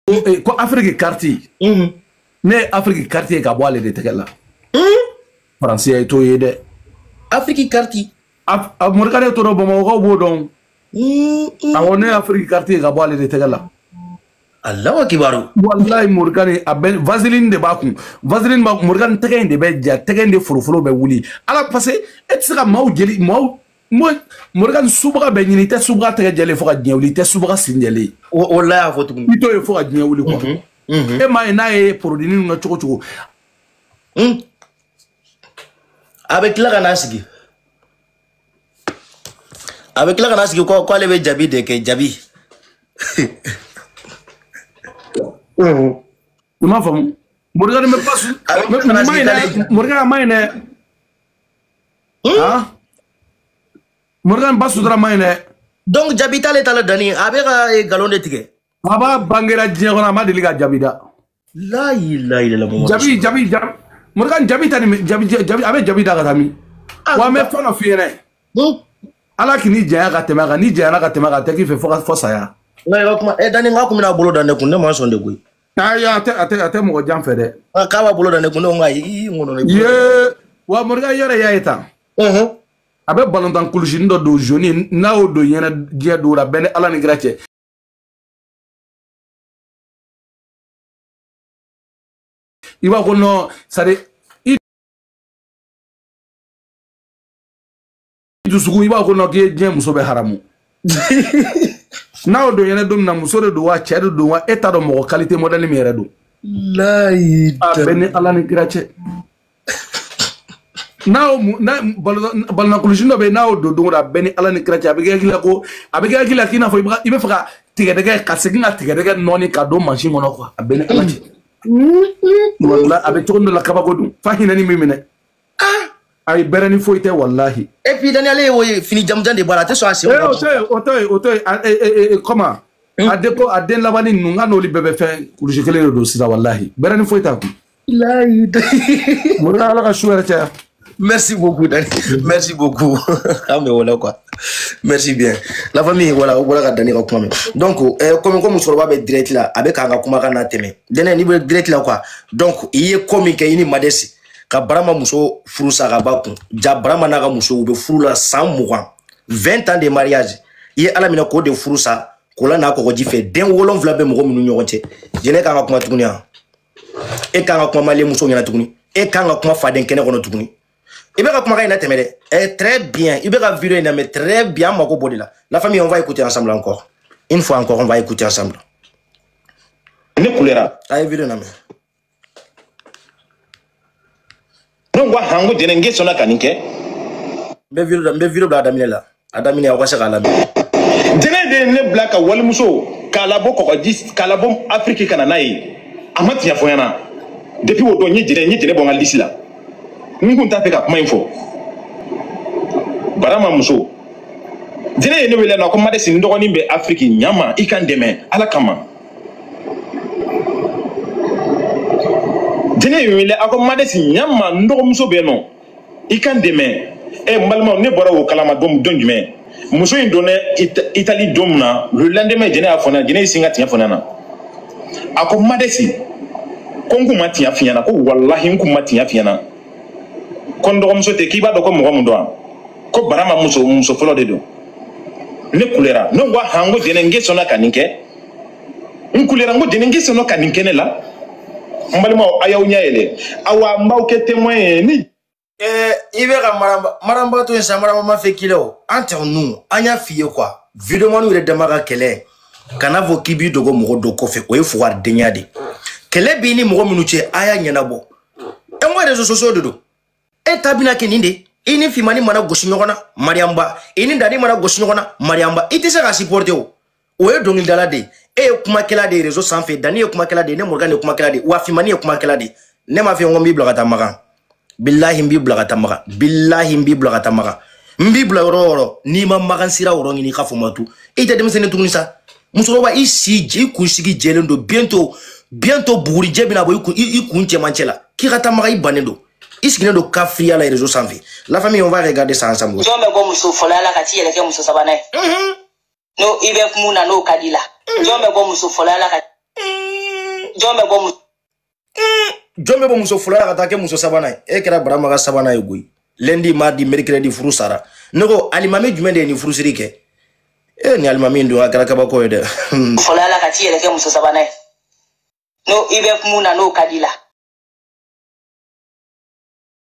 eh, ko afiriki kariti mm-hmm. ne ye afiriki kariti ye ka bɔ ale de tɛgɛ la mm-hmm. faransi ye t'o ye dɛ afiriki kariti Morgane t'o dɔn bamakɔkaw b'o dɔn mm-hmm. awɔ ne ye afiriki kariti ye ka bɔ ale de tɛgɛ la allahu akbar walayi Morgane a bɛ vaseline de b'a kun vaseline b'a kun Morgane tɛgɛ in de bɛ ja tɛgɛ in de foroforo bɛ wuli a la parce que e tɛ se ka maaw jeli maaw Morgane subaga bɛɛ ɲini i tɛ subaga tɛgɛ jɛlen fo ka diɲɛ wuli i tɛ subaga sen jɛlen walayi a fɔ tuguni i t'o ye fo ka diɲɛ wuli quoi mhm, mhm. e m'a ye n'a ye produit ninnu kɛ cogo o cogo hmm. a bɛ tila ka n'a sigi a bɛ tila ka n'a sigi ko ale bɛ jabi de kɛ jabi i m'a faamu Morgane bɛ pasi ma ɲinɛ Morgane ma ɲinɛ Morgane b'a sutura ma ɲinɛ donc jabi t'ale ta la dani a bɛ ka nkalon de tigɛ kab'a bangera diɲɛ kɔnɔ a ma deli ka jabi da la ilaha illallah jabi jabi jabi Morgane jabi ta ni jabi jabi a bɛ jabi da ka taa min wa n bɛ fɛn dɔ f'i ɲɛna donc ala kan'i janya ka tɛmɛ a kan n'i janyana ka tɛmɛ a kan a tɛ k'i fɛ fo ka fɔ saya nka i ka kuma ɛ dani k'a kun bɛna bolo da ne kun ne ma sɔn dɛ koyi ayi a tɛ a tɛ a tɛ mɔgɔ jan fɛ dɛ Ah, k'a b'a bolo da ne kun ne ko ayi i ŋɔnɔ ne ye wa Morgane yɛrɛ y'a ye tan Mhm. a bɛ balontan kulusini dɔ don jaune ye, n'a y'o don ɲɛnɛ diɲɛ don la bɛ n ni ala ni kira cɛ i b'a ko nɔ sari dusukun i b'a ko nɔ k'i ye diɲɛ muso bɛɛ haramu n'a y'o don yɛrɛ don min na muso de don wa cɛ de don wa e t'a dɔn mɔgɔ kalite mɔdɛli min yɛrɛ don a bɛ n ni ala ni kira cɛ n'a balontan kulusi dɔ bɛ yen n'a y'o don don o don a bɛ n ni ala ni kira cɛ a bɛ k'i hakili la ko a bɛ k'i hakili la k'i n'a fɔ i bɛ fɛ ka tigɛdɛgɛ ka segin ka tigɛdɛgɛ nɔɔni ka don mansin kɔnɔ quoi a bɛ n ni ala cɛ walayi a bɛ cogo dɔ la kabako dun fa hinɛ ni min minɛ ah ayi bɛrɛ ni foyi tɛ walahi. et puis daniel ale y'o ye fini jamujan de b'a la a tɛ sɔn a sen. ee o to yen o to yen o to yen a ee ee e, comment. Hmm. a de ko a den labanni ninnu n k'a n'olu bɛɛ bɛ fɛn kulusi kelen de don sisan walahi bɛrɛ ni foyi t'a kun. layi de. mori ala ka su hɛrɛ caya. merci beaucoup dani merci beaucoup eh ben voilà quoi merci bien la famille voilà aw bɔra ka dani ka kuma mɛn donc eh, komi ko musokɔrɔba bɛ direct la a bɛ k'an ka kuma kana tɛmɛ dɛnɛ n'i bɛ direct la quoi donc i ye ko min kɛ i ni madɛsi ka barama muso furu sa ka ba kun ja barama n'a ka muso u bɛ furu la san mugan 20 ans de mariage i ye ala minɛ k'o de furu sa k'o lana kɔgɔji fɛ den wolonfila bɛ mɔgɔ minnu ɲɔgɔn cɛ jɛnɛ kan ka kuma tuguni yan e kan ka kuma mali muso ɲɛna tuguni e kan ka kuma faden kɛnɛ kɔnɔ tuguni i bɛ ka kumakan in latɛmɛ dɛ eh, très bien i bɛ ka video in lamɛn très bien an mako b'o de la la famille on va écouter ensemble encore une fois encore on va écouter ensemble ne kulera a ye video lamɛn ne ko han ko jɛnɛ n k'e sɔnna ka nin kɛ. n bɛ video n bɛ video bila a daminɛ la a daminɛ aw ka se k'a lamɛn. jɛnɛ de ye ne bila ka walimuso k'a labɔ kɔkɔji k'a labɔ afiriki ka na n'a ye a ma tiɲɛ fɔ n ɲɛna depuis o don n ye jɛnɛ n ye jɛnɛ bɔ n ka lisi la n kun t'a fɛ ka kuma in fɔ barama muso jɛnɛ ye ne wele na ko madesi n dɔgɔnin bɛ afiriki ɲama i ka n dɛmɛ ala kama. jɛnɛ ye n wele a ko madesi ɲama n dɔgɔmuso bɛ yen nɔ i ka n dɛmɛ ɛ n balimaw ne bɔra o kalama don don jumɛn muso in donna itali don min na le lendemain jɛnɛ y'a fɔ ne ɲɛna jɛnɛ y'i sin ka tiɲɛ fɔ ne ɲɛna a ko madesi ko n kun ma tiɲɛ f'i ɲɛna ko walahi n kun ma tiɲɛ f'i ɲɛna ko n dɔgɔmuso tɛ k'i b'a dɔn ko mɔgɔ mun don ko barama muso fɔlɔ de don ne kulera ne ko han ko jɛnɛ n k'e sɔnna ka nin kɛ n kulera n ko jɛnɛ n k'e sɔnna ka nin kɛ ne la n balimaw a y'aw ɲɛ yɛlɛ awa n b'aw kɛ témoin ye ni eh, i bɛ ka maramba to yen sa maramba ma fɛn k'i la o entre nous an y'a f'i ye quoi videomanw yɛrɛ dama ka kɛlɛ kana fɔ k'i b'i dogo mɔgɔ dɔ kɔfɛ o ye fugaridenya de kɛlɛ b'i ni mɔgɔ minnu cɛ a y'a ɲɛnabɔ an ko réseaux sociaux de don e ta bɛna kɛ nin de i ni fimani mana gosi ɲɔgɔn na mariyanba i ni dani mana gosi ɲɔgɔn na mariyanba i tɛ se ka supporter o o ye dɔnkilidala de ye e ye kumakɛla de ye réseau sanfɛ dani ye kumakɛla de ye ne mɔrikani ye kumakɛla de ye wa fimani ye kumakɛla de ye ne m'a f'i ye n ko n b'i bila ka taa makan bilahi n b'i bila ka taa makan bilahi n b'i bila ka taa makan n b'i bila yɔrɔ yɔrɔ n'i ma makan sira yɔrɔ ɲini i ka fɔ ma tu i tɛ denmisɛnnin tuguni sa musokɔrɔba i si i kunsigi jɛlen don bientôt bientôt bugurijɛ bɛna bɔ i kun cɛmancɛ la k'i ka taa makan i bannen don i sigilen don kafiriya la réseau sanfɛ la famille on va regarder ça ensemble jɔn bɛ bɔ muso fɔlɔya la ka t'i yɛrɛ kɛ muso sabanan ye mhm. n'o i bɛ mun na n'o ka d'i la mhm. jɔn bɛ bɔ muso fɔlɔya la ka mhm. jɔn bɛ bɔ muso jɔn bɛ bɔ muso fɔlɔ la ka taa kɛ muso sabanan ye e kɛra barama ka sabanan ye koyi lundi mardi mercredi furu sara ne ko alimami jumɛn de ye nin furusiri kɛ e ni alimami don a kɛra kabako ye dɛ fɔlɔ la ka t'i yɛrɛ kɛ muso sabanan ye n'o i bɛ mun na n'o ka d'i la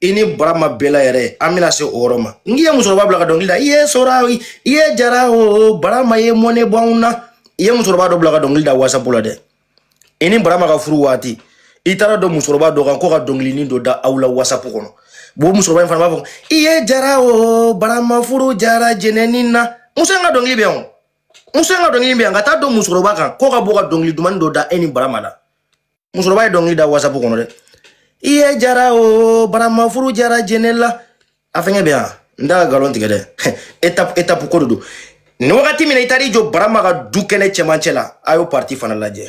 i ni barama bɛla yɛrɛ an bɛna se o yɔrɔ ma n k'i ye musokɔrɔba bila ka dɔnkili da i ye sora i ye jara o barama ye mɔnɛ bɔ anw na i ye musokɔrɔba dɔ bila ka dɔnkili da wasapu la dɛ i ni barama ka furu waati i taara don musokɔrɔba dɔ kan k'o ka dɔnkilinin dɔ da aw la wasapu kɔnɔ bon musokɔrɔba in fana b'a fɔ i ye jara o barama furu jara jɛnɛni na muso in ka dɔnkili bɛ yan muso in ka dɔnkili bɛ yan ka taa don musokɔrɔba kan k'o ka bɔ ka dɔnkili dumani dɔ da e ni barama la musokɔrɔba ye dɔnkili da wasapu kɔnɔ dɛ i ye jara o barama furu jara jɛnɛ la a fɛngɛ bɛ yan n t'a ka galon tigɛ dɛ étape étape ko de don nin wagati min na i taara i jɔ barama ka du kɛnɛ cɛmancɛ la a y'o partie fana lajɛ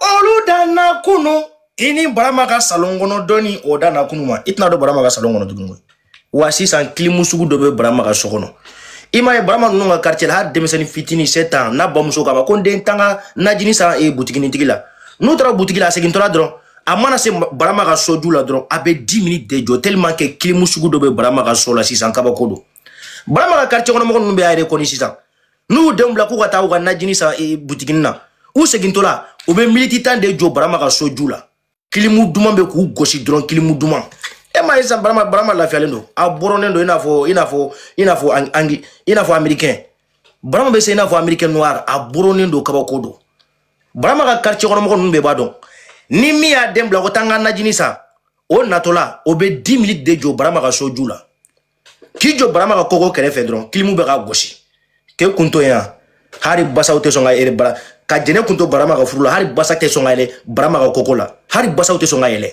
olu danna kunu i ni barama ka salon kɔnɔ donni o danna kunu ma i tɛna don barama ka salon kɔnɔ tuguni koyi wa sisan kilimu sugu dɔ bɛ barama ka so kɔnɔ i m'a ye barama ninnu ka quartier la hali denmisɛnnin fitinin 7 ans n'a bamuso k'a ma ko n den taa n ka najini san e butikinitigi la n'u taara butigi la a segintɔla dɔrɔn a mana se barama ka so ju la dɔrɔn a bɛ 10 minutes de jɔ tellement que kilimu sugu dɔ bɛ barama ka so la sisan kabako don barama ka quartier kɔnɔ mɔgɔ ninnu bɛɛ a yɛrɛ kɔni sisan n'u y'u denw bila k'u ka taa u ka najini san e, butigini na u segintɔla u bɛ miniti tan de jɔ barama ka so ju la kilimu duman bɛ k'u gosi dɔrɔn kilimu duman e m'a ye sisan barama barama lafiyalen don a bɔrɔnen don i n'a fɔ i n'a fɔ i n'a fɔ angi i n'a fɔ amerikɛn barama bɛ se i n'a fɔ amerikɛn noir a bɔrɔnen don kabako don barama ka quartier kɔnɔmɔgɔ ninnu bɛɛ b'a dɔn ni min y'a den bila ko taa n ka najini san o natɔla o bɛ 10 minutes de jɔ barama ka so ju la k'i jɔ barama ka kogo kɛrɛfɛ dɔrɔn kilimu bɛ k'a gosi k'e kun to yan hari basaw tɛ sɔn ka yɛlɛ bara ka jɛnɛ kun to barama ka furu la hari basa tɛ sɔn ka yɛlɛ barama ka kogo la hari basaw tɛ sɔn ka yɛlɛ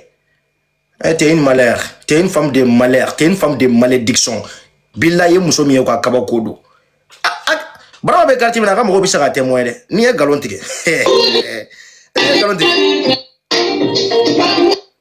eh, t'es une malheur t'es une femme de malheur t'es une femme de malédiction bilayi i ye muso min ye ka kabako don barama bɛ quartier min na a ka mɔgɔw bɛ se ka témoin dɛ n'i ye nkalon tigɛ n'i ye nkalon tigɛ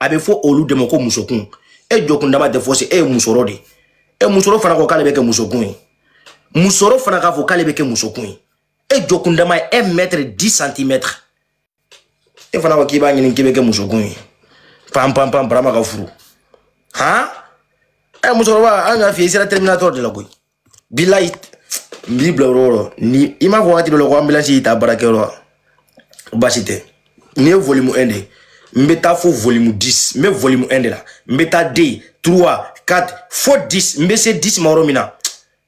a bɛ fɔ olu de ma ko musokun e jɔkundama tɛ fosi ye musɔrɔ de e musɔrɔ fana ko k'ale bɛ kɛ musokun ye musɔrɔ fana k'a fɔ k'ale bɛ kɛ musokun ye e jɔkundama ye un mètre dix centimètres e fana ko k'i b'a ɲini k'i bɛ kɛ musokun ye pan pan pan barama ka furu han ɛ musokɔrɔba an y'a f'i ye i sera terminator de la koyi bilayi n b'i bila yɔrɔ yɔrɔ ni i m'a fɔ wagati dɔ la ko anbilansi y'i ta baarakɛyɔrɔ la baasi tɛ nin ye volume 1 de ye n bɛ taa fo volume 10 n bɛ volume 1 de la n bɛ taa 2 3 4 fo 10 n bɛ se 10 ma yɔrɔ min na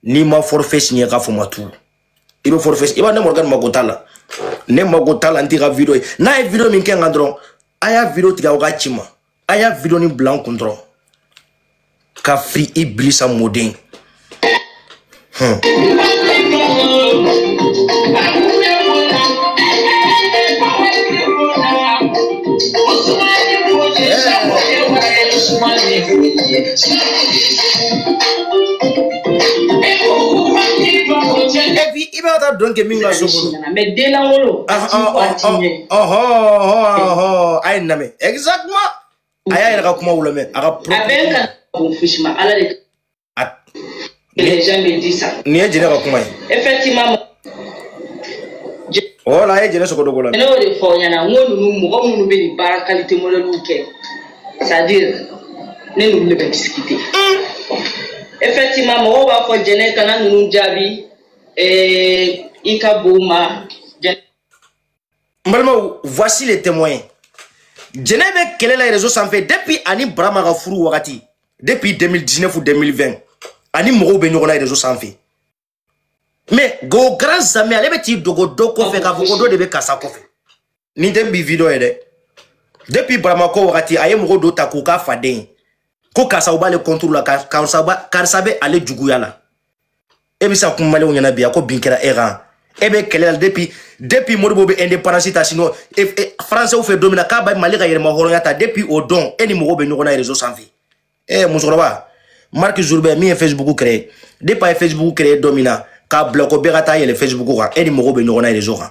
n'i ma forfait signé k'a fɔ ma tuuru i bɛ forfait i b'a ne morgan mako t'a la ne mako t'a la n t'i ka video ye n'a ye video min kɛ n kan dɔrɔn a y'a video tigɛ aw k'a ci n ma a y'a video nin bila n kɔnturu kafiri ibilisa mɔden hmm. b'a ta dɔn kɛ min ka so kɔnɔ. mais den lankolon. a ye n lamɛn. exactement a y'a yɛrɛ ka kuma olu mɛn a ka a bɛɛ ka bon fosi ma ala de les gens me disent ça nin ye jɛnɛ ka kuma ye effectivement wala a ye jɛnɛ sogodogo la ne y'o de fɔ aw ɲɛna n ko ninnu mɔgɔ minnu bɛ nin baara kalite modɛliw kɛ c'est à dire ne n'olu de bɛ discuter effectivement mɔgɔw b'a fɔ jɛnɛ kana ninnu jaabi i ka bon ma n balimaw voici les témoins jɛnɛ bɛ kɛlɛ la réseau sanfɛ depuis ani barama ka furu wagati depuis 2019 ou 2020 ani mɔgɔw bɛ ɲɔgɔn na réseau sanfɛ mais au grand jamais ale bɛ t'i dogo dɔ kɔfɛ k'a fɔ ko dɔ de bɛ karisa kɔfɛ nin tɛ bi video ye dɛ depuis baramako wagati a ye mɔgɔ dɔ ta k'o k'a faden ye ko karisa u b'ale kɔnturu la karisa bɛ ale juguya la e bɛ se ka kuma maliyɛnw ɲɛna bi a ko bin kɛra e kan e bɛ kɛlɛ la depuis depuis modibo bɛ indépendance ta sinon e, e, françaisw fɛ don min na k'a bɛ mali ka yɛrɛmahɔrɔnya ta depuis o don e ni mɔgɔw bɛ ɲɔgɔn na réseau sanfɛ e musokɔrɔba mark zuckerberg min ye facebook créé depuis a ye facebook créé don min na k'a bila ko bɛɛ ka taa yɛlɛ facebook kan e ni mɔgɔw bɛ ɲɔgɔn na réseau kan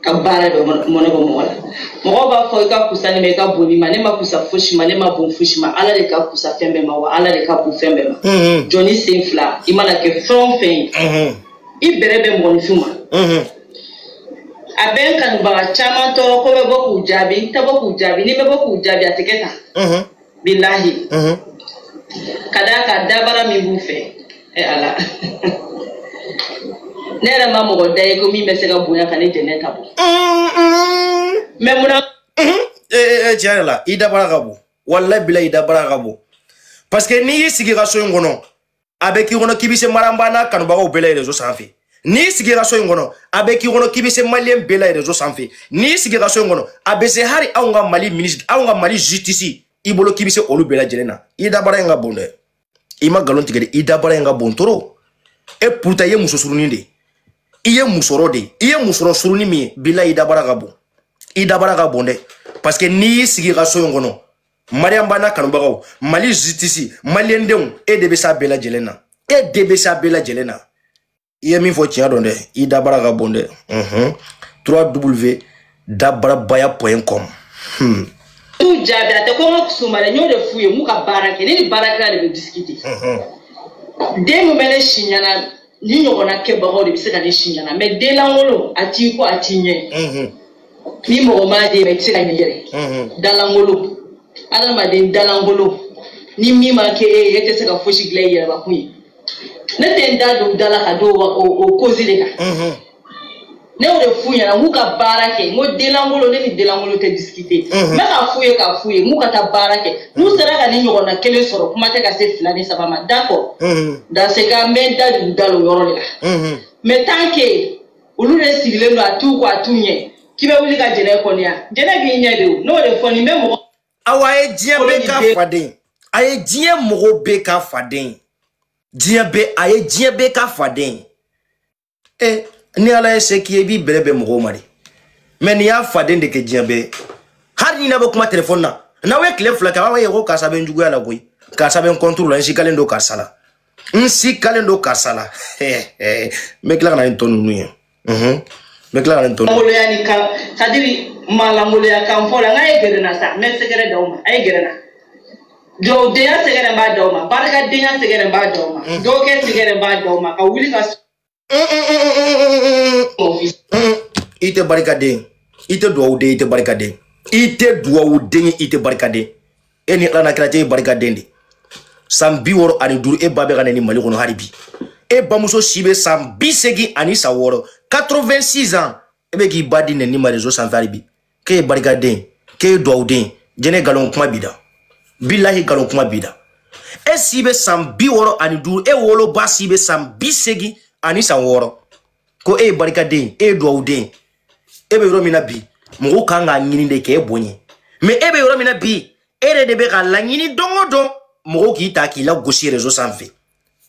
ka baara de bɛ mɔnɛ bɔ mɔgɔ la mɔgɔw b'a fɔ i ka kusa nin ma i ka bon nin ma ne man kusa fosi ma ne man bon fosi ma ala de ka kusa fɛn bɛɛ ma wa ala de ka bon fɛn bɛɛ ma mm-hmm. jɔnnin sen fila i mana kɛ fɛn o fɛn ye mm-hmm. i bɛrɛ bɛ mɔgɔninfin ma mm-hmm. a bɛ n kanubaga caman tɔɔrɔ ko bɛ bɔ k'u jaabi n tɛ bɔ k'u jaabi ni n bɛ bɔ k'u jaabi a tɛ kɛ tan bilahi mhm. ka d'a kan dabara min b'u fɛ e ala ne yɛrɛ ma mɔgɔ da ye ko min bɛ se ka bonya ka ne jɛnɛ ta bɔ mais munna tiɲɛ yɛrɛ la i dabara ka bon walayi bilahi i dabara ka bon parce que n'i y'i sigi i ka so in kɔnɔ a bɛ k'i kɔnɔ k'i bɛ se maranba n'a kanubagaw bɛɛ la rezo sanfɛ n'i sigira so in kɔnɔ a bɛ k'i kɔnɔ k'i bɛ se maliyɛn bɛɛ la rezo sanfɛ n'i sigira so in kɔnɔ a bɛ se hali anw ka mali minisiri anw ka mali zutisi i bolo k'i bɛ se olu bɛɛ lajɛlen na i dabara in ka bon dɛ i ma nkalon tigɛ dɛ i dabara in ka bon trop et pourtant i ye muso surunin de i ye musokɔrɔ de i ye musokɔrɔ surunin min ye bilahi i dabara ka bon i dabara ka bon dɛ parce que n'i y'i sigi i ka so in kɔnɔ mariam ba n'a kanubagaw mali justice maliyɛndenw e de bɛ s'a bɛɛ lajɛlen na e de bɛ s'a bɛɛ lajɛlen na i ye min fɔ tiɲɛ don dɛ i dabara ka bon dɛ unhun 3w dabarabaya point com hmm. u jaabi a tɛ ko n ka kusuma dɛ n y'o de f'u ye n k'u ka baara kɛ ne ni baarakɛla de bɛ disikite den min bɛ ne si ɲɛna ne ɲɔgɔnna kɛbagaw de bɛ se ka ne si ɲana mɛ denlankolon a t'i kɔ a t'i ɲɛ ni mɔgɔ m'a dɛmɛ i tɛ se ka ɲɛ yɛrɛ dalankolon adamaden dalankolon ni min ma kɛ e ye e tɛ se ka fosi dilan i yɛrɛbakun ye ne tɛ n da don da la ka don o kozi de kan ne y'o de f'u ɲɛna n k'u ka baara kɛ n ko denlankolon ne ni denlankolon tɛ disikite n bɛ k'a f'u ye k'a f'u ye n k'u ka taa baara kɛ n'u sera ka ne ɲɔgɔnna kelen sɔrɔ kuma tɛ ka se fila ni saba ma d'accord dans ce cas n bɛ n da don da don yɔrɔ de la mais tant que olu de sigilen don a t'u kɔ a t'u ɲɛ k'i bɛ wuli ka jɛnɛ kɔniya jɛnɛ b'i ɲɛ de o n'o de fɔ nin bɛ mɔgɔ awa a ye diɲɛ bɛɛ ka faden a ye diɲɛ mɔgɔ bɛɛ ka faden diɲɛ bɛɛ a ye diɲɛ bɛɛ ka faden e ni ala ye se k'i ye i b'i bɛrɛ bɛn mɔgɔw ma dɛ mɛ nin y'a faden de kɛ diɲɛ bɛɛ hali ni n'aw bɛ kuma telefɔni na n'aw ye tile fila kɛ aw ye ko karisa bɛ n juguya la koyi karisa bɛ n kɔntoro la n sigalen don karisa la n sigalen don karisa la n bɛ tila ka na ni tɔ ninnu ye n bɛ tila ka na ni tɔ ninnu ye. ni kan c'est-à-dire malangoloya kan fɔ la n k'a ye gɛrɛ na sa n bɛ sɛgɛrɛ d'aw ma a ye gɛrɛ na. jɔdenya sɛgɛrɛ b'a d'aw ma barikadenya sɛgɛrɛ b'a d'aw ma mm. dɔgɔkɛ sɛgɛrɛ b'a d'aw ma ka wuli ka i tɛ barikaden i tɛ dugawuden i tɛ barikaden i tɛ dugawuden i tɛ barikaden e ni ala n'a kira cɛ ye barikaden de san bi wɔɔrɔ ani duuru e ba bɛ ka neni mali kɔnɔ hali bi e bamuso si bɛ san bi segin ani san wɔɔrɔ 86 ans e bɛ k'i ba di neni ma rezo sanfɛ hali bi k'e ye barikaden k'e ye duwawuden jɛnɛ nkalon kuma b'i da bilahi nkalon kuma b'i da e si bɛ san bi wɔɔrɔ ani duuru e woloba si bɛ san bi seegin ani san wɔɔrɔ ko e ye barikaden e ye duwawuden e bɛ yɔrɔ min na bi mɔgɔw kan k'a ɲini de k'e bonya mɛ e bɛ yɔrɔ min na bi e yɛrɛ de bɛ ka laɲini don o don mɔgɔw k'i ta k'i lagosi rezo sanfɛ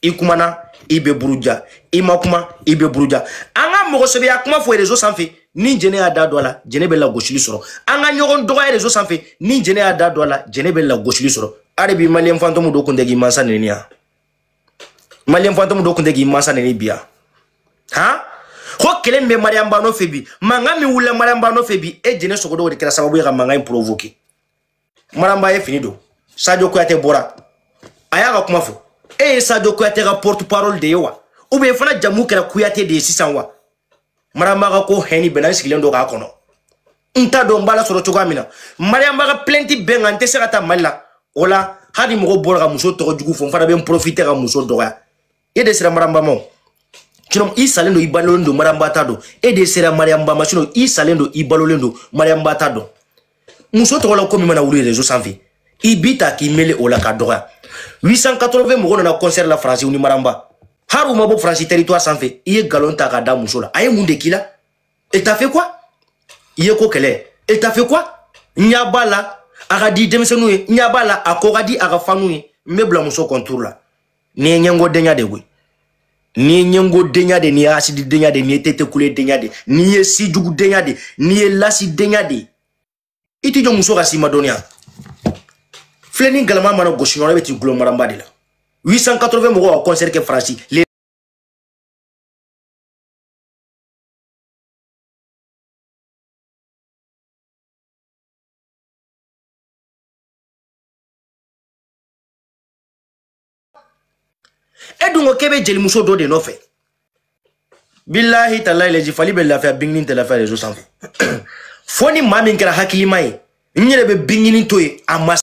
i kumana i bɛ buruja i ma kuma i bɛ buruja an ka mɔgɔsɛbɛya kuma fɔ rezo sanfɛ ni jɛnɛ y'a da don a la jɛnɛ bɛ lagosili sɔrɔ an ka ɲɔgɔn dɔgɔya rezo sanfɛ ni jɛnɛ y'a da don a la jɛnɛ bɛ lagosili sɔrɔ hali bi maliyɛn fantomu dɔ kun tɛ k'i mansa neni yan maliyɛn fantomu dɔ kun tɛ k'i mansa neni bi yan han ko kelen bɛ mariyamu ba nɔfɛ bi mankan min wulila mariyamu ba nɔfɛ bi e jɛnɛ sogodogo de kɛra sababu ye ka mankan in provoke maramba ye fini don sadio kuyate bɔra a y'a ka kuma fɔ e ye sadio kuyate ka porte parole de ye wa ou bien fana jamu kɛra kuyate de ye sisan wa maramba ka ko haine bɛ n na n sigilen don k'a kɔnɔ n t'a dɔn n b'a lasɔrɔ cogoya min na mariyamba ka plainte bɛ n kan n tɛ se ka taa mali la o la hali mɔgɔ bɔra ka muso tɔgɔ jugu fɔ n fana bɛ n profite ka muso dɔgɔya e de sera maramba ma sinɔn i salen don i balolen don mariyamba t'a dɔn e de sera mariyamba ma sinɔn i salen don i balolen don mariyamba t'a dɔn muso tɔgɔ la ko min mana wuli rezo sanfɛ i bi taa k'i mele o la ka dɔgɔya 880 mɔgɔ nana concert la faransi ni maramba hari u ma bɔ faransi territoire sanfɛ i ye galon ta ka da muso la a ye mun de k'i la elle t'a fait quoi i ye ko kɛlɛ elle t'a fait quoi n'i y'a b'a la a ka di denmisɛnninw ye n'i y'a b'a la a ko ka di a ka faniw ye mun b'i bila muso contre la n'i ye ɲɛngo denya de koyi n'i ye ɲɛngo denya de n'i ye hasidi denya de n'i ye tetekule denya de n'i ye sijugu denya de n'i ye lasi denya de i tɛ jɔ muso ka si ma dɔnniya filen ni galama mana gosi ɲɔgɔn na i bɛ t'i gulon maranba de la 880 mɔgɔw ka concert kɛ faransi e dun ko k'e bɛ jelimuso dɔ de nɔfɛ bilahi talayi lɛji fali bɛ lafiya bingini tɛ lafiya rezo sanfɛ fo ni maa min kɛra hakilima ye n yɛrɛ bɛ bingini to yen a ma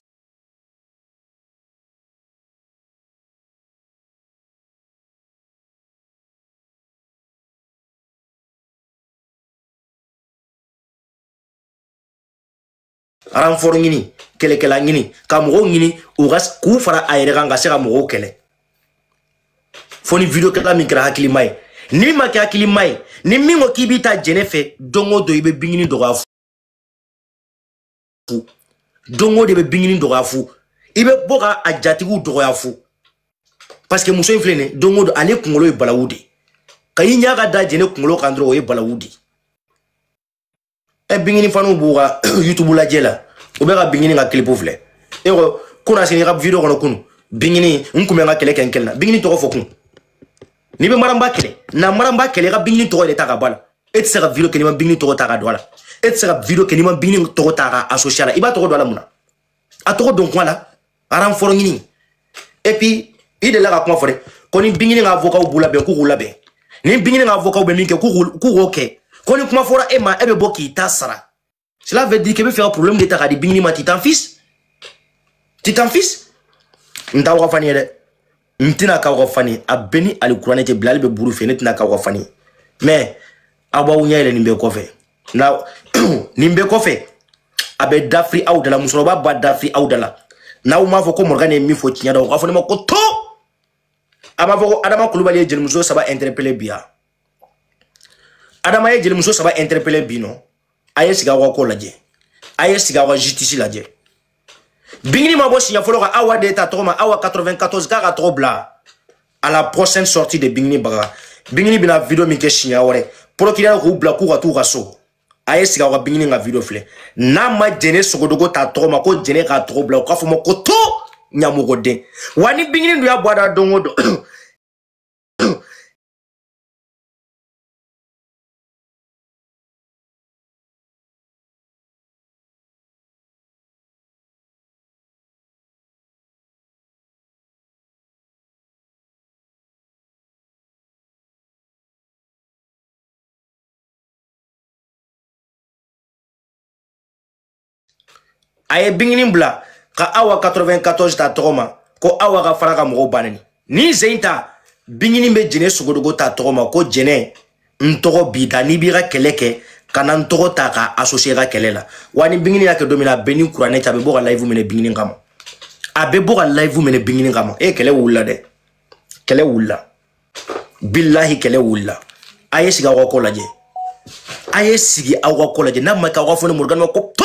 renfort ɲini kɛlɛkɛla ɲini ka mɔgɔw ɲini u ka k'u fara a yɛrɛ kan ka se ka mɔgɔw kɛlɛ fo ni video kɛla min kɛra hakilima ye n'i ma kɛ hakilima ye ni min ko k'i bi taa jɛnɛ fɛ don o don i bɛ bingini dɔgɔya fu don o don e bɛ bingini dɔgɔya fu i bɛ bɔ ka a jatigiw dɔgɔya fu parce que muso in filɛ nin ye don o don ale kunkolo ye balawu de ye ka i ɲɛ ka da jɛnɛ kunkolo kan dɔrɔn o ye balawu de ye ɛ bingini faniw b'u ka youtube lajɛ la u bɛ ka bingini ka kilipu filɛ e ko kunasini ka video kɔnɔ kunu bingini n kun bɛ n ka kɛlɛ kɛ n kelen na bingini tɔgɔ fɔ kun n'i bɛ maranba kɛlɛ na maranba kɛlɛ i ka bingini tɔgɔ de ta ka bɔ a la e tɛ se ka video kɛ n'i ma bingini tɔgɔ ta ka don a la e tɛ se ka video kɛ n'i ma bingini tɔgɔ ta ka associer a la i b'a tɔgɔ don a la mun na a tɔgɔ don kuma la renfort ɲini et puis i delila ka kuma fɔ dɛ ko ni bingini ka avocaw b'u labɛn k'u k'u labɛn ni bingini ka avocaw bɛ min kɛ k'u k'o kɛ ko ni kuma fɔra e ma e bɛ bɔ k'i ta sara cela veut dire k'e bɛ fɛ ka problème de ta ka di bingini ma t'i t'en fils t'i t'en fils n t'aw ka fani ye dɛ n tɛna k'aw ka fani a bɛ ni alikuranɛ tɛ bila ale bɛ buru fɛ ne tɛna k'aw ka fani mais aw b'aw ɲɛ yɛlɛ nin bɛɛ kɔfɛ na nin bɛɛ kɔfɛ a bɛ dafiri aw da la musokɔrɔba b'a dafiri aw da la n'aw m'a fɔ ko morgane ye min fɔ tiɲɛ don aw k'a fɔ ne ma ko to a m'a fɔ ko adama kulubali ye jelimuso saba interpeller bi wa adama ye jelimuso saba interpeller bi non a ye sigi aw ka ko lajɛ a ye sigi aw ka justice lajɛ bingini ma bɔ siɲɛ fɔlɔ ka awa de ta tɔgɔ ma awa 94 k'a tɔgɔ bila à la prochaine sortie de bingini baga bingini bɛna video min kɛ siɲɛ wɛrɛ procureur k'u bila k'u ka t'u ka so a ye sigi aw ka bingini ka video filɛ n'a ma jɛnɛ sogodogo ta tɔgɔ ma ko jɛnɛ k'a tɔgɔ bila u k'a fɔ n ma ko to ɲamɔgɔden wa ni bingini dun y'a bɔ a da don o don a ye bingini bila ka awa 94 ta tɔgɔ ma ko awa ka fara ka mɔgɔw banani ni zen ta bingini bɛ jɛnɛ sogodogo ta tɔgɔ ma ko jɛnɛ n tɔgɔ b'i da n'i b'i ka kɛlɛ kɛ kana n tɔgɔ ta k'a associer i ka kɛlɛ la wa ni bingini y'a kɛ don min na a bɛ ni kuranɛ cɛ a bɛ bɔ ka live minɛ bingini kama a bɛ bɔ ka live minɛ bingini kama e kɛlɛ wulila dɛ kɛlɛ wulila bilahi kɛlɛ wulila a ye sigi aw ka ko lajɛ a ye sigi aw ka ko lajɛ n'a ma kɛ aw k'a fɔ ne morgane ko to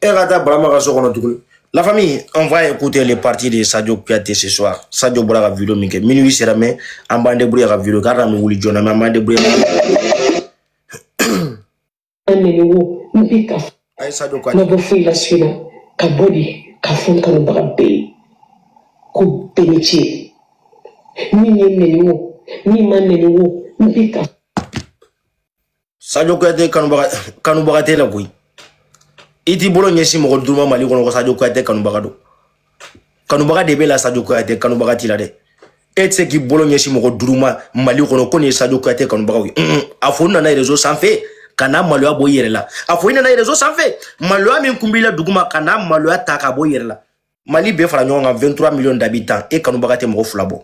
e ka taa barama ka so kɔnɔ tuguni la famille on va écouter les parties de sadio kuyate ce soir sadio bɔra ka video min kɛ minuit sera mais an b'an débrouiller ka video k'a kana wuli joona mais an b'an débrouiller ayi sajo k'a ma bɔ foyi la su in na ka bɔ de k'a fɔ n kanubaga bɛɛ ye ko bɛɛ ni ce min ye n nɛni wo min ma n nɛni wo n bɛ ka sajo kuyate kanubaga t'e la koyi i t'i bolo ɲɛsin mɔgɔ duuru ma mali kɔnɔ ko sajo kuyate kanubaga don kanubaga de b'e la sadio kuyate kanubaga t'i la dɛ e tɛ se k'i bolo ɲɛsin mɔgɔ duuru ma mali kɔnɔ ko nin ye sadio kuyate kanubagaw ye a fɔ n nana réseau sanfɛ ka na maloya bɔ i yɛrɛ la a fɔ i nana réseau sanfɛ maloya min kun b'i la duguma ka na maloya ta ka bɔ i yɛrɛ la mali bɛɛ fara ɲɔgɔn kan 23 millions d'habitants e kanubaga tɛ mɔgɔ fila bɔ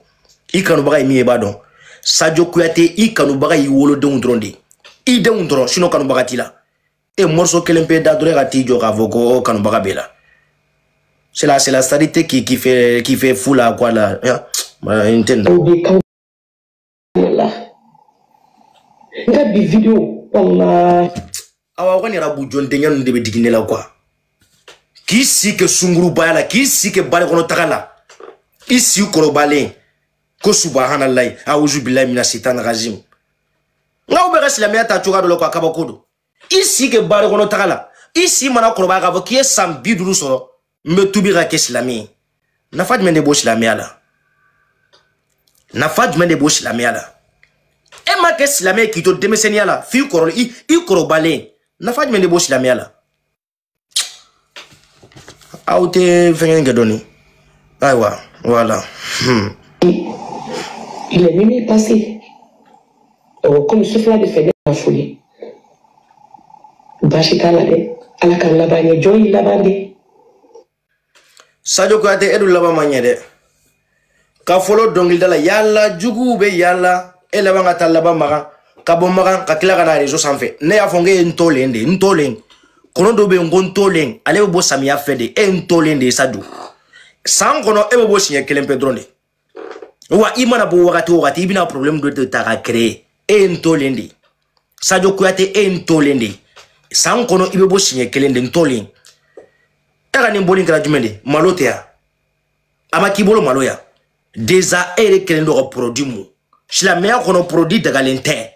i kanubaga ye min ye i b'a dɔn sadio kuyate i kanubaga y'i wolodenw dɔrɔn de ye i denw dɔrɔn sinon kanubaga t'i la e morso kelen pe da dɔrɔn ka t'i jɔ k'a fɔ ko kanubaga b'i la c'est la c'est la charité qui qui fait qui fait fou la quoi la n tɛ nin la n ka bi video kɔnɔna awa kɔni yɛrɛ bu jɔn denkɛ ninnu de bɛ digi ne la quoi k'i si kɛ sungurubaya la k'i si kɛ bari kɔnɔ taga la i si kɔrɔbalen ko subahanallahi auzu bilahi mina sitani rajim nka u bɛ ka silamɛya ta cogoya dɔ la quoi kabako don i si kɛ bari kɔnɔ taga la i si mana kɔrɔbaya k'a fɔ k'i ye san bi duuru sɔrɔ n bɛ tubi ka kɛ silamɛ ye nafa jumɛn de b'o silamɛya la nafa jumɛn de b'o silamɛya la e ma kɛ silamɛ ye k'i to denmisɛnninya la f'i kɔrɔ i kɔrɔbalen nafa jumɛn de b'o silamɛya la aw tɛ fɛngɛ kɛ dɔɔni ayiwa voilà. Hmm. il est minuit passé euh, comme sufɛla de fɛ ne ma foli baasi t'a la dɛ ala k'an laban ɲɛ jɔn y'i laban de sajo kuyate e dun laban ma ɲɛ dɛ ka fɔlɔ dɔnkilida la yaala jugu bɛɛ yaala e laban ka taa laban makan ka bɔ makan ka tila ka na rezo sanfɛ ne y'a fɔ n k'e ye ntolen de ye ntolen kɔnɔ dɔ bɛ yen ko ntolen ale bɛ bɔ samiya fɛ de e ye ntolen de ye sajo san kɔnɔ e bɛ bɔ siɲɛ kelen pe dɔrɔn de wa i mana bɔ wagati o wagati i bɛna problème dɔ de ta ka créer e ye ntolen de sadio kuyate e ye ntolen de san kɔnɔ i bɛ bɔ siɲɛ kelen de ntolen e ka nin bɔli kɛra jumɛn de malo tɛ yan a ma k'i bolo maloya déjà e yɛrɛ kɛlen don ka produit mun silamɛya kɔnɔ produit dagalen tɛ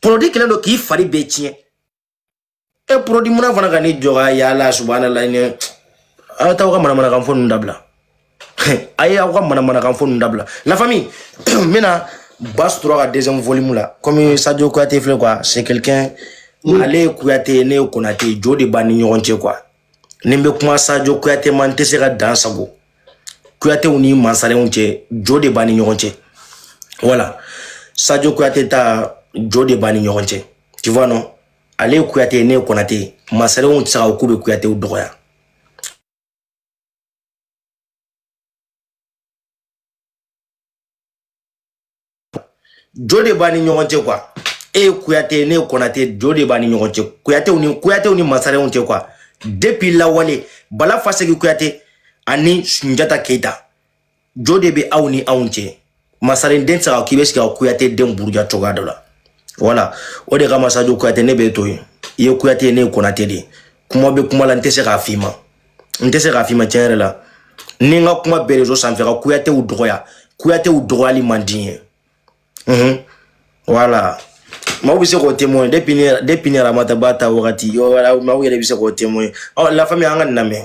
produit kɛlen don k'i fari bɛɛ tiɲɛ e produit munna fana ka ni jɔga yala subahanala ni aw t'aw ka manamanakan fɔ ninnu dabila a ye aw ka manamanakan fɔ ninnu dabila la famille n bɛna bas tora ka deuxième volume la comme sadio kuyate filɛ quoi c'est quelqu'un mm. ale ye kuyate ye ne ye konate ye jo de b'an ni ɲɔgɔn cɛ quoi ni n bɛ kuma sadio kuyate ma n tɛ se ka dansagon kuyatew ni mansarenw cɛ jo de b'an ni ɲɔgɔn cɛ voilà sadio kuyate ta jo de b'an ni ɲɔgɔn cɛ tu vois non ale ye kuyate ye ne ye kɔnate ye masarenw tɛ se ka ko k'u bɛ kuyatew dɔgɔya jo de b'an ni ɲɔgɔn cɛ quoi e ye kuyate ye ne ye kɔnate jo de b'an ni ɲɔgɔn cɛ kuyatew ni kuyatew ni masarenw cɛ quoi depuis lawale bala fasegi kuyate ani sunjata keyita jo de bɛ aw ni anw cɛ masaren den tɛ se ka k'i bɛ sigi ka kuyate den buruja cogoya dɔ la voilà o de kama sajo kuyate ne bɛ to yen i ye kuyate ye ne ye konate de ye kuma bɛ kuma la n tɛ se k'a f'i ma n tɛ se k'a f'i ma tiɲɛ yɛrɛ la ni n ka kuma bɛɛ réseau sanfɛ ka kuyatew dɔgɔya kuyatew dɔgɔyali man di n ye unhun voilà maaw bɛ se k'o témoin depuis ne depuis ni ramata ba ta wagati maaw yɛrɛ bɛ se k'o témoin ɔ la famille an ka nin lamɛn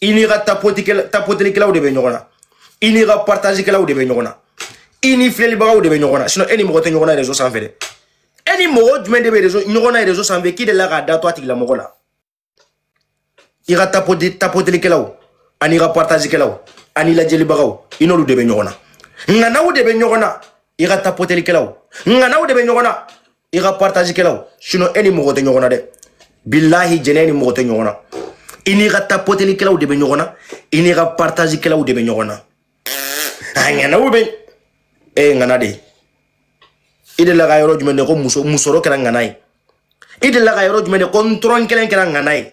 i n'i ka tapotelikɛlaw de bɛ ɲɔgɔn na i n'i ka partazikɛlaw de bɛ ɲɔgɔn na i ni filɛlibagaw de bɛ ɲɔgɔn na sinon e ni mɔgɔ tɛ ɲɔgɔn na réseau sanfɛ dɛ e ni mɔgɔ jumɛn de bɛ réseau ɲɔgɔn na réseau sanfɛ k'i delila k'a da to a tigilamɔgɔ la i ka tapotelikɛlaw an'i ka partazikɛlaw an'i lajɛlibagaw i n'olu de bɛ ɲɔgɔn na ŋanaw de bɛ ɲɔgɔn na i ka tapotelikɛlaw ŋanaw de bɛ ɲɔgɔn na i ka partage kɛlaw sinon e ni mɔgɔ tɛ ɲɔgɔn na dɛ bilahi jɛnɛ ni mɔgɔ tɛ ɲɔgɔn na i n'i ka tapoteli kɛlaw de bɛ ɲɔgɔn na i n'i ka partage kɛlaw de bɛ ɲɔgɔn na a ŋanaw bɛ e ye ŋana de ye i delila ka yɔrɔ jumɛn de ko muso musɔrɔ kɛra ŋana ye i delila ka yɔrɔ jumɛn de ko n tɔrɔn kelen kɛra ŋana ye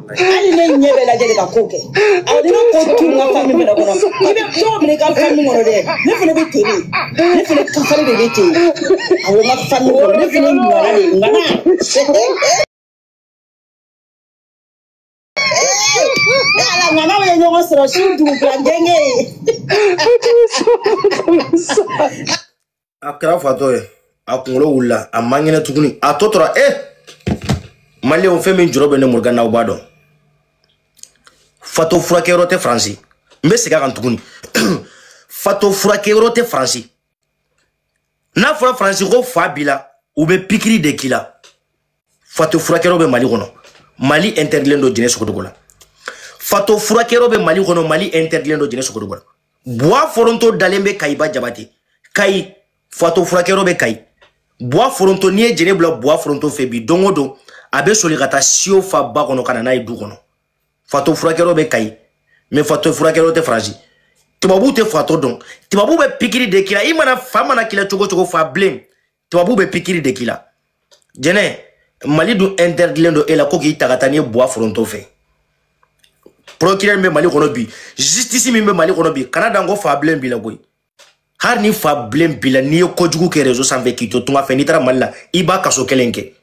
hali ne ɲɛ bɛ lajɛ de ka ko kɛ awɔ ni ne ko tu n ka fami fɛnɛ kɔnɔ i bɛ cogo min i ka fami kɔnɔ dɛ ne fɛnɛ bɛ ten de ne fɛnɛ kafari de bɛ ten awɔ n ka fami kɔnɔ ne fɛnɛ ye ŋana de ye ŋana ne ala ŋana bɛ ɲɔgɔn sɔrɔ su dugu bila gɛngɛ ye a kɛra fatɔ ye a kunkolo wulila a man kɛnɛ tuguni a tɔ tora e maliyɛnw fɛn min jɔrɔ bɛ ne morgan na aw b'a dɔn fatɔ furakɛyɔrɔ tɛ faransi n bɛ segin a kan tuguni fatɔ furakɛyɔrɔ tɛ faransi n'a fɔra faransi ko fa b'i la u bɛ pikiri de k'i la fatɔ furakɛyɔrɔ bɛ mali kɔnɔ mali interdilen don jɛnɛ sogodogo la fatɔ furakɛyɔrɔ bɛ mali kɔnɔ mali interdilen don jɛnɛ sogodogo la buwa foronto dalen bɛ kayiba jabate kayi fatɔ furakɛyɔrɔ bɛ kayi buwa foronto n'i ye jɛnɛ bila buwa foronto fɛ bi don o don a bɛ soli ka taa siyo fa ba kɔnɔ ka na n'a ye du kɔnɔ fatɔ furakɛyɔrɔ bɛ kayi mais fatɔ furakɛyɔrɔ tɛ faransi tubabuw tɛ fatɔ dɔn tubabuw bɛ pikiri de k'i la i mana fa mana k'i la cogo cogo fa bilen tubabu bɛ pikiri de k'i la jɛnɛ mali dun interdilen don e la ko k'i ta ka taa n'i ye buwa foronto fɛ procureur min bɛ mali kɔnɔ bi justice min bɛ mali kɔnɔ bi kana dan ko fa bilen b'i la koyi hali ni fa bilen b'i la n'i ye kojugu kɛ réseau sanfɛ k'i to tunga fɛ n'i taara mali la i b'a kaso kelen kɛ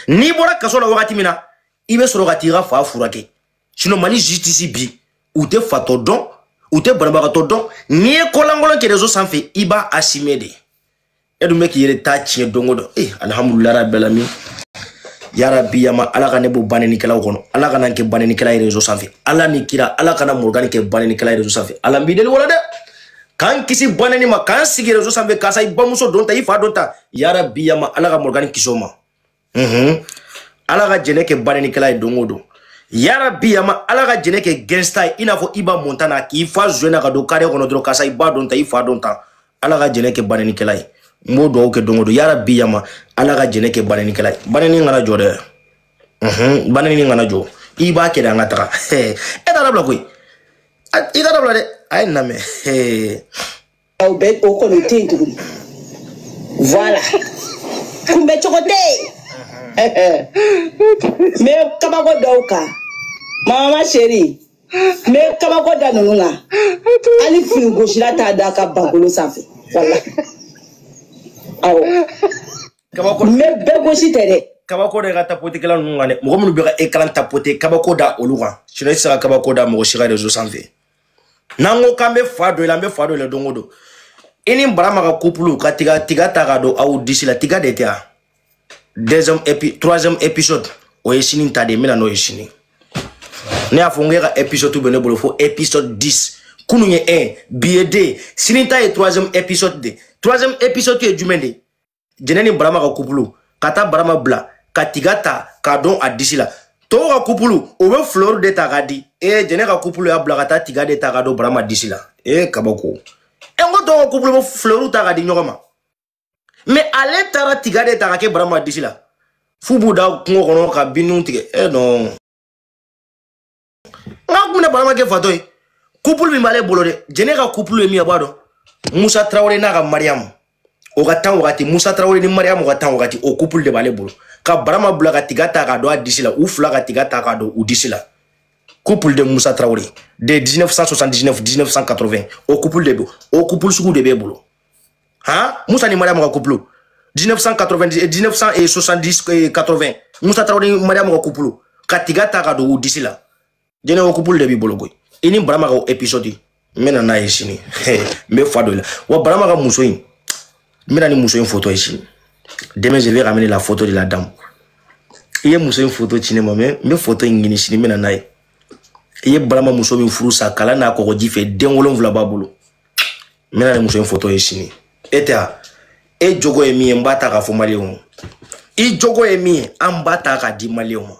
n'i bɔra kaso la wagati min na i bɛ sɔrɔ ka t'i ka fa furakɛ sinon mali justice bi u tɛ fatɔ dɔn u tɛ banabagatɔ dɔn n'i ye kolankolon kɛ réseau sanfɛ i b'a assumer de e dun bɛ k'i yɛrɛ ta tiɲɛ don o don ee alihamudulila rabi alamin yarabi yama ala ka ne bɔ banenikɛlaw kɔnɔ ala kana n kɛ banenikɛla ye rezo sanfɛ ala ni kira ala kana morogani kɛ banenikɛla ye rezo sanfɛ ala n b'i deli o la dɛ k'an kisi baneni ma k'an sigi rezo sanfɛ karisa i bamuso don ta i fa don ta yarabi yama ala ka morogani kisi o ma mhm. ala ka jɛnɛ kɛ banenikɛla ye don o don yarabi yama ala ka jɛnɛ kɛ gangsta ye i n'a fɔ iba montana k'i fa zuwɛn na ka don kare kɔnɔ dɔrɔn karisa i ba don ta i fa don ta ala ka jɛnɛ kɛ banenikɛla ye n b'o dugawu kɛ don o don yarabi yama ala ka jɛnɛ kɛ banenikɛla ye baneni kana jɔ dɛ mhm, baneni kana jɔ i b'a kɛ de an ka taga e t'a dabila koyi i t'a dabila dɛ a ye n lamɛn aw bɛ o kɔni o tɛ yen tuguni voilà kunbɛ cogo tɛ yen n bɛ kabako da o kan mama chérie n bɛ kabako da ninnu kan hali fini gosira t'a da ka bakolo sanfɛ voilà awɔ kabako n bɛ bɛɛ gosi tɛ dɛ kabako da tapotekɛla ninnu kan dɛ mɔgɔ minnu bɛ ka écran tapote kabako da olu kan sinɔ i tɛ se ka kabako da mɔgɔ si kan rezo sanfɛ n'an ko k'an bɛ fa don i la an bɛ fa don i la don o don i ni barama ka kupulu ka tiga ta ka don aw disi la tiga de tɛ yan deuxième épi troisième épisode o ye sini ta de ye n bɛ na n'o ye sini ne y'a fɔ n k'e ka épisode bɛ ne bolo fo épisode 10 kunun ye 1 bi ye 2 sini ta ye troisième épisode de troisième épisode ye jumɛn de ye jɛnɛ ni barama ka kupulu ka taa barama bila ka tiga ta k'a don a disi la tɔw ka kupulu o bɛ fleur de ta k'a di ee jɛnɛ ka kupulu y'a bila ka taa tiga de ta k'a don barama disi la ee kabako n ko tɔw ka kupulu bɛ fleur ta k'a di ɲɔgɔn ma mɛ ale taara tiga de ta k'a kɛ barama disi la f'u b'u da kungo kɔnɔ ka binw tigɛ e nɔn nga ko min na barama kɛ fatɔ ye couple min b'ale bolo dɛ jɛnɛ ka couple ye min ye a b'a dɔn musa tarawele n'a ka mariyamu o ka tan wagati musa tarawele ni mariyamu ka tan wagati o couple de b'ale bolo ka barama bila ka tiga ta k'a don a disi la u fila ka tiga ta k'a don u disi la couple de musa tarawele de 1979 1980 o couple de bɛ o couple sugu de b'e bolo han musa ni mariyamu ka kupulu 1990 1970 80 musa tarawele ni mariyamu ka kupulu ka tiga ta ka don u disi la jɛnɛ o kupulu de b'i bolo koyi i ni barama ka episode n bɛ na n'a ye sini n bɛ fa don i la wa barama ka muso in n bɛ na ni muso in foto ye sini demain je vais ramener la photo de la dame i ye muso in foto ci ne ma mɛ n bɛ foto in ɲini sini n bɛ na n'a ye i ye barama muso min furu sa kalan n'a kɔgɔji fɛ den wolonwula b'a bolo n bɛna nin muso in foto ye sini e tɛ a e jogo ye min ye n b'a ta k'a fɔ maliyɛnw ma i jogo ye min ye an b'a ta k'a di maliyɛnw ma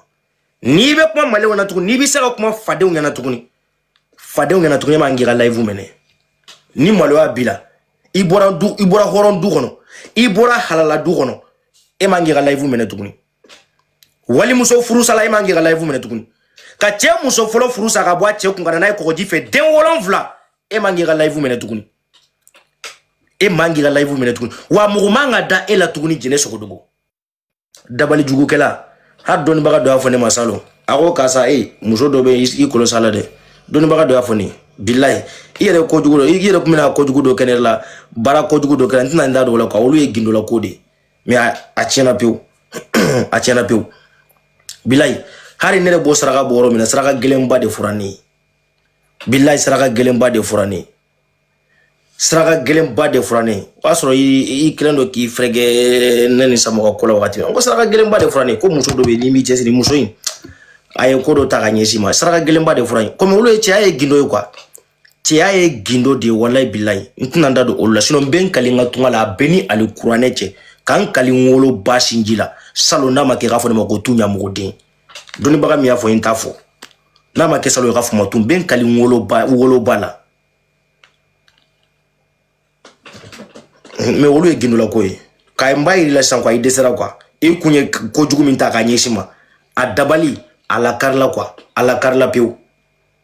n'i bɛ kuma maliyɛnw na tuguni n'i bɛ se ka kuma fadenw ɲɛna tuguni fadenw ɲɛna tuguni e man k'i ka layifu minɛ ni maloya b'i la i bɔra hɔrɔn du kɔnɔ i bɔra halala du kɔnɔ e man k'i ka layifu minɛ tuguni walimuso furusala e man k'i ka layifu minɛ tuguni ka cɛ muso fɔlɔ furu sa ka bɔ a cɛ kun ka na n'a ye kɔgɔji fɛ den wolonfila e man k'i ka layifu minɛ tuguni e man k'i ka layifu minɛ tuguni wa mɔgɔ man ka da e la tuguni jɛnɛ sogodogo dabali jugukɛla hali dɔnnibaga dɔ y'a fɔ ne ma salon a ko karisa e muso dɔ bɛ i kolo sa la dɛ dɔnnibaga dɔ y'a fɔ ne ye bilayi i yɛrɛ kojugu dɔ i yɛrɛ tun bɛna kojugu dɔ kɛ ne la baara kojugu dɔ kɛra n tɛna n da don o la kuwa olu ye gindolako de ye mɛ a tiɲɛna pewu a tiɲɛna pewu bilayi hali ne yɛrɛ b'o saraka bɔ yɔrɔ min na saraka gɛlɛnba de fɔra ne ye bilayi saraka gɛlɛnba de fɔra ne ye saraka gɛlɛnba de fɔra ne ye o y'a sɔrɔ i kɛlen don k'i fɛrɛkɛ ne ni samɔgɔ ko la wagati min ko saraka gɛlɛnba de fɔra ne ye ko muso dɔ bɛ yen n'i m'i cɛsiri muso in a ye ko dɔ ta ka ɲɛsin i ma saraka gɛlɛnba de fɔra n ye komi olu ye cɛya ye gindo ye kuwa cɛya ye gindo de ye walayi bilayi n tɛna n da don olu la sinɔn n bɛ n kali n ka tunga la a bɛ n ni alikuranɛ cɛ ka n kali n woloba sinji la salon n'a ma kɛ k'a fɔ ne ma ko tu ɲamɔgɔden dɔnnibaga min y'a fɔ n t'a fɔ n'a ma kɛ salon ye k'a fɔ n ma n tun bɛ n kali n woloba woloba la mɛ olu ye gindolako ye ka n b'a yira i la sisan kuwa i dɛsɛra kuwa i kun ye kojugu min ta k'a ɲɛsin n ma a dabali a lakarila kuwa a lakarila pewu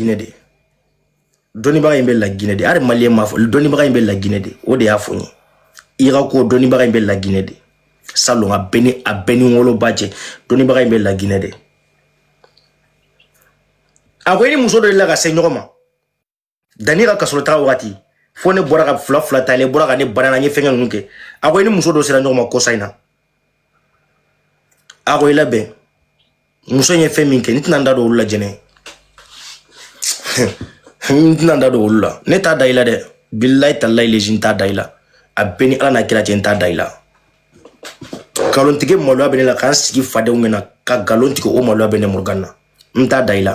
Guinée de dɔnnibaga in bɛ la Guinée de hali maliyɛn m'a fɔ dɔnnibaga in bɛ la Guinée de o de y'a fɔ n ye irako dɔnnibaga in bɛ la Guinée de salon a bɛ n ni a bɛ n ni n woloba cɛ dɔnnibaga in bɛ la Guinée de a ko i ni muso dɔ de la ka se ɲɔgɔn ma danni ka kasɔrɔ taga wagati fo ne bɔra ka fila fila ta ne bɔra ka ne bana na n ye fɛnkɛ ninnu kɛ a ko i ni muso dɔ sera ɲɔgɔn ma kɔsa in na a ko i labɛn muso in ye fɛn min kɛ n tɛna n da don olu la jɛnɛ n tɛna n da don olu la ne t'a da i la dɛ bilayi talayi lezi n t'a da i la a bɛ n ni ala n'a kira cɛ n t'a da i la nkalontigɛ maloya bɛ ne la ka n sigi fadenw ɲɛna ka nkalon tigɛ o maloya bɛ ne morgan na n t'a da i la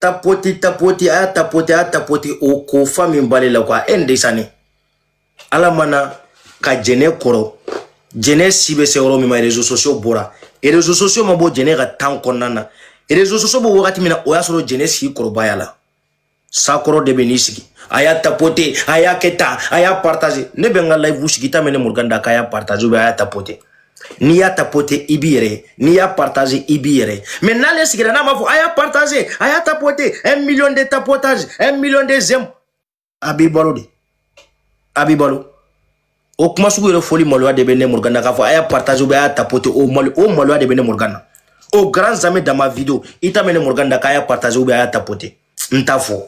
tapoti tapoti a y'a tapoti a y'a tapoti o ko fa min b'ale la ko a e n desani ala mana ka jɛnɛ kɔrɔ jɛnɛ si bɛ se yɔrɔ min ma réseaux sociaux bɔra réseaux sociaux ma bɔ jɛnɛ ka tan kɔnɔna na réseaux sociaux bɔ wagati min na o y'a sɔrɔ jɛnɛ si kɔrɔbayala sakɔrɔ de bɛ n'i sigi a y'a tapote a y'a kɛ tan a y'a partage ne bɛ n ka live sigi ta mɛn ne morgan da k'a y'a partage ou bien a y'a tapote n'i y'a tapote i b'i yɛrɛ n'i y'a partage i b'i yɛrɛ mais n'ale sigira n'a m'a fɔ a y'a partage a y'a tapote un million de tapotage un million de j'aime a b'i balo de a b'i balo o kuma sugu yɛrɛ fɔli maloya de bɛ ne morgan na k'a fɔ a y'a partage ou a y'a tapote o malo o maloya de bɛ ne morgan na au grand jamais dans ma video i t'a mɛn ne morgan na k'a y'a partage ou a y'a tapote n t'a fɔ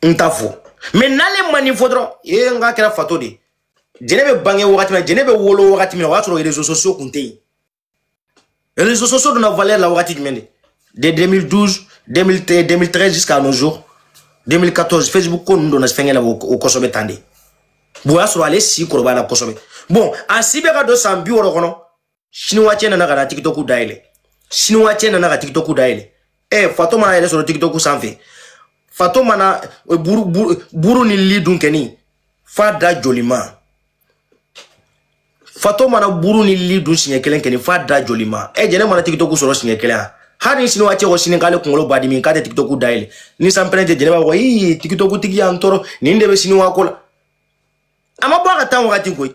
n t'a fɔ mais n'ale ma nin fɔ dɔrɔn ee n k'a kɛra fatɔ de ye jɛnɛ bɛ bange wagati min na jɛnɛ bɛ wolo wagati min na o y'a sɔrɔ réseaux sociaux kun tɛ yen réseaux sociaux donna valeur la wagati jumɛn de de 2012 2013 jusqu'à nos jours 2014 facebook ko ninnu donna fɛnkɛ la o kosɛbɛ tan de bon o y'a sɔrɔ ale si kɔrɔbayala kosɛbɛ bon a si bɛ ka don san bi wɔɔrɔ kɔnɔ siniwa cɛ nana ka na tikitɔku dayɛlɛ siniwa cɛ nana ka tikitɔku dayɛlɛ ɛ fatɔ mana a yɛrɛ sɔrɔ tikitɔku sanfɛ fatɔ mana eh, buru, buru, buru ni li dun kɛni fa da jolima fatɔ mana buru ni li dun siɲɛ kelen kɛni fa da jolima ɛ jɛnɛ mana tikitɔku sɔrɔ siɲɛ kelen a hali ni siniwa cɛ ko sini k'ale kunkolo b'a dimi k'a tɛ tikitɔku dayɛlɛ ni sanpɛrɛn tɛ jɛnɛ b'a fɔ ii tikitɔku tigi y'an tɔɔrɔ nin de bɛ siniwa ko la a ma bɔ a ka tan wagati koyi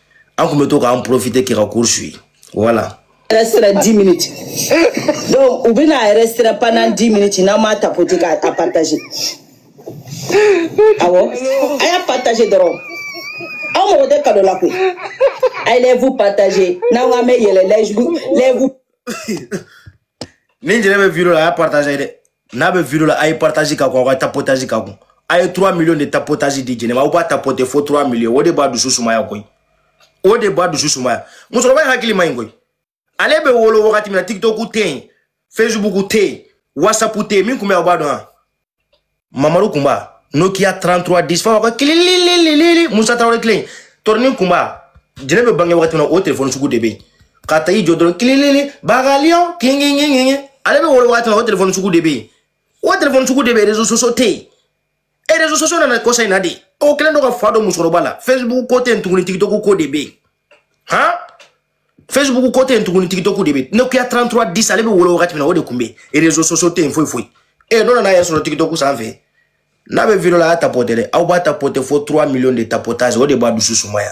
an tun bɛ to k'an profite k'i ka cours suivi voilà yɛrɛ sera 10 minutes donc u bɛna a yɛrɛ sera pendant 10 minutes n'an m'a tapoter k'a a partager awɔ a y'a partager dɔrɔn aw mago tɛ cadeau la koyi a ye live partager n'aw k'an bɛ yɛlɛ live live ni jɛnɛ bɛ video la a y'a partager dɛ n'a bɛ video la a ye partage k'a kun aw ka tapotage k'a kun a ye 3 million de tapotage di jɛnɛ ma aw b'a tapote fo 3 million o de b'a dusu sumaya koyi o de b'a dusu sumaya musokɔrɔba in hakili man ɲi koyi ale bɛ wolo wagati min na tiktok tɛ yen facebook tɛ yen whatsapp tɛ yen min tun bɛ aw b'a dɔn wa mamaru kunba nokia 33 10 fa ka kililililili musa tarawele tile tɔrɔnin kunba jɛnɛ bɛ bange wagati min na o telefɔni sugu de bɛ yen ka taa i jɔ dɔrɔn kililili bagaliɔn kingingingingi ale bɛ wolo waati min na o telefɔni sugu de bɛ yen o telefɔni sugu de bɛ yen réseaux sociaux tɛ yen e réseaux sociaux nana kɔsa in na de o kɛlen don ka fa don musokɔrɔba la facebook ko tɛ yen tuguni tikitɔku ko de bɛ yen han facebook ko tɛ yen tuguni tikitɔku de bɛ yen nokia 33 10 ale bɛ wolo wagati min na o de tun bɛ yen réseaux sociaux tɛ yen foyi foyi e n'o nana a yɛrɛ sɔrɔ tikitɔku sanfɛ n'a bɛ video la a y'a tapɔtɛ dɛ aw b'a tapɔtɛ fo 3 millions de tapotage o de b'a dusu sumaya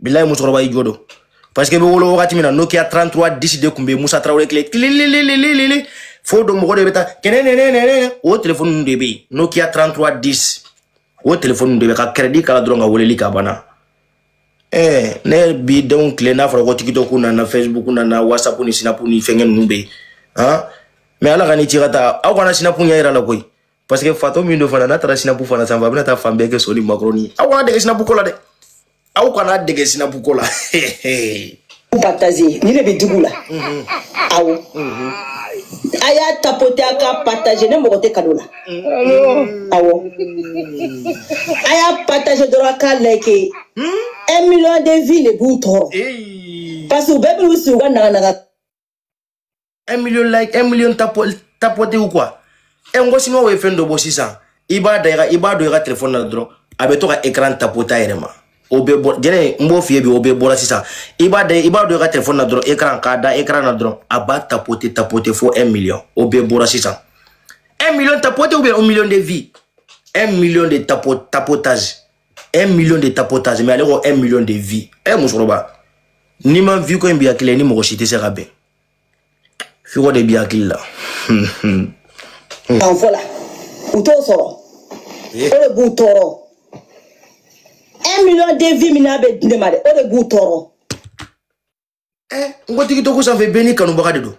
bilayi musokɔrɔba i jo don parce que i bɛ wolo wagati min na nokia 33 10 de tun bɛ musa tarawele tile tilililililili fo don mɔgɔ de bɛ taa kɛnɛnɛnɛnɛnɛ o telefɔni ninnu de bɛ yen nokia 33 10 o telefɔni ninnu de bɛ ka kɛrɛdi k'a la dɔrɔn ka weleli kɛ a banna ɛɛ ne bi denw tile n'a fɔra ko tikitɔku nana facebook nana whatsapp ni sinapu ni fɛnkɛ ninnu bɛ yen han mais ala ka ni ci ka taa aw kana sinapu ɲɛ yira a la koyi parce que fatɔ min don fana n'a taara sinapu fana sanfɛ a bɛna taa fan bɛɛ kɛ soli makroni aw kana dege sinapu ko la dɛ aw kana dege sinapu ko la partager nin de bɛ dugu la mhm. awo mhm. a y'a tapote a k'a partager ne mako tɛ kado la mhm. awɔ a y'a partager dɔrɔn a k'a like hmm? un million de vues de b'u tɔɔrɔ parce que u bɛɛ b'u sigi u ka naganaga un million like un million tapo tapote ou quoi ɛ n ko siniwaw ye fɛn dɔ bɔ sisan i b'a da i ka i b'a don i ka telefɔni na dɔrɔn a bɛ to ka ekran tapote a yɛrɛ ma o bɛ bɔ jɛnɛ n b'o f'i ye bi o bɛɛ bɔra sisan i b'a da i b'a don i ka telefɔni na dɔrɔn ekran k'a da ekran na dɔrɔn a b'a tapote tapote fo un million o bɛɛ bɔra sisan un million tapote ou bien un million de vues un million de tapo tapotage 1 million de tapotage mais ale ko 1 million de vues ɛ eh, musokɔrɔba n'i ma vue ko in b'i hakili la i ni mɔgɔ si tɛ se ka bɛn vue ko de b'i hakili la. han voilà u t'o sɔrɔ o de b'u tɔɔrɔ 1 million de vues min n'a bɛ di ne ma dɛ o de b'u tɔɔrɔ. ɛ n ko tigitɔku sanfɛ bɛɛ n'i kanubaga de don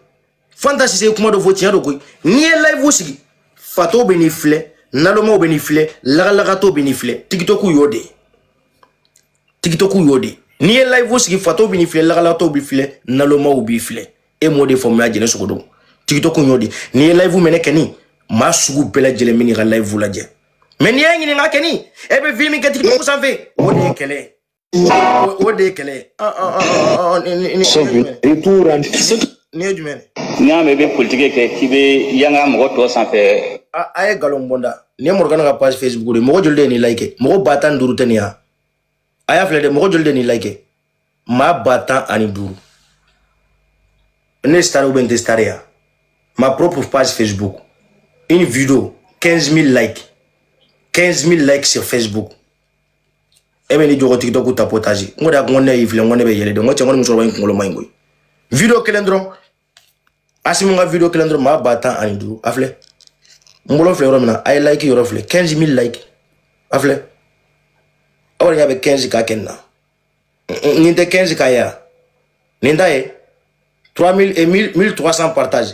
fanta sise ye kuma dɔ fɔ tiɲɛ don koyi n'i ye layifu sigi fatɔw bɛ n'i filɛ nalomaw bɛ n'i filɛ lagalagatɔw bɛ n'i filɛ tigitɔku y'o de ye tigitɔku y'o de ye n'i ye layifu sigi fatɔw bɛ n'i filɛ lagalagatɔw b'i filɛ nalomaw b'i filɛ e m'o de faamuya jɛnɛ sogodogo tigitɔku y'o de ye n'i ye layifu mɛnɛ kɛni maa sugu bɛɛ lajɛlen bɛ n'i ka layifu lajɛ mɛ n'i y'a ɲininka kɛni e bɛ vue min kɛ tigitɔku sanfɛ o de ye kɛlɛ ye o de ye kɛlɛ nin ye jumɛn n'i y'a mɛn i bɛ politiki kɛ k'i bɛ yanga mɔgɔ tɔw sanfɛ a ye nkalon bɔnda nin ye morgane ka page facebook de mɔgɔ joli de ye nin like mɔgɔ ba tan ni duuru tɛ nin yan a y'a filɛ dɛ mɔgɔ joli de ye nin like maa ba tan ani duuru ne star ou bien n tɛ star ya ma propre page facebook une vidéo 15 000 likes 15 000 likes sur facebook e bɛ n'i jɔ ko tiktoku tapotage n ko de a ko ne y'i filɛ n ko ne bɛ yɛlɛ de n ko cɛ n ko nin musokɔrɔba in kunkolo man ɲi koyi video kelen dɔrɔn asimi ka video kelen dɔrɔn maa ba tan ani duuru a filɛ n bolo filɛ yɔrɔ min na a ye like yɔrɔ filɛ 15 000 like a filɛ aw yɛrɛ ɲɛ bɛ 15 K kɛ nin na nin tɛ 15 K ye a nin ta ye 3000 1300 partage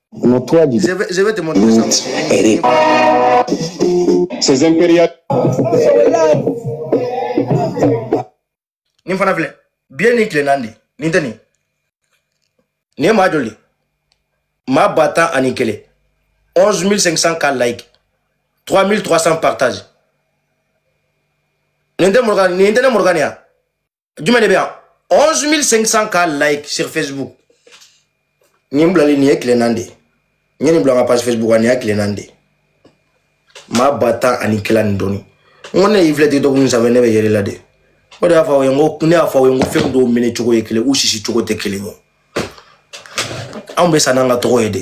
Unatoa Je vais, je vais te montrer ça. jibiti Eric. Ces impérial Nin fana filɛ bi ye nin tile naani de nin tɛ nin nin ye maa joli de ye? maa ba tan ani kelen 11500 K like 3300 partage nin tɛ morgane nin tɛ ne morgane nin ya jumɛn de bɛ yan 11500 ka like sur facebook nin bilali nin ye tile naani de ye n ye nin bila n ka page facebook kan nin y'a tile naani de ye maa ba tan ani kelen ni dɔɔni n ko ne y'i filɛ tiktok nin sanfɛ ne bɛ yɛlɛ la de o de y'a fɔ aw ye n ko ne y'a fɔ aw ye n ko fɛn dɔw mɛnɛ cogo ye kelen u sisi cogo tɛ kelen ye anw bɛ sa n'an ka tɔgɔ ye de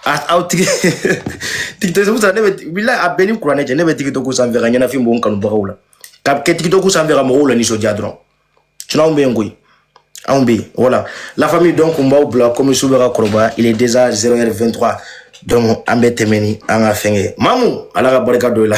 aw tigi tiktok sa ne bɛ bila a bɛɛ ni kuranɛ cɛ ne bɛ tiktok sanfɛ ka ɲɛnafin bɔ n kanubagaw la ka kɛ tiktok sanfɛ ka mɔgɔw lanisɔndiya dɔrɔn sinon anw bɛ yen koyi anw bɛ yen voilà la famille donc n b'aw bila comme su bɛ ka kɔrɔbaya il est déjà 0 heure 23 donc an bɛ tɛmɛ ni an ka fɛnkɛ mamu ala ka barika don i la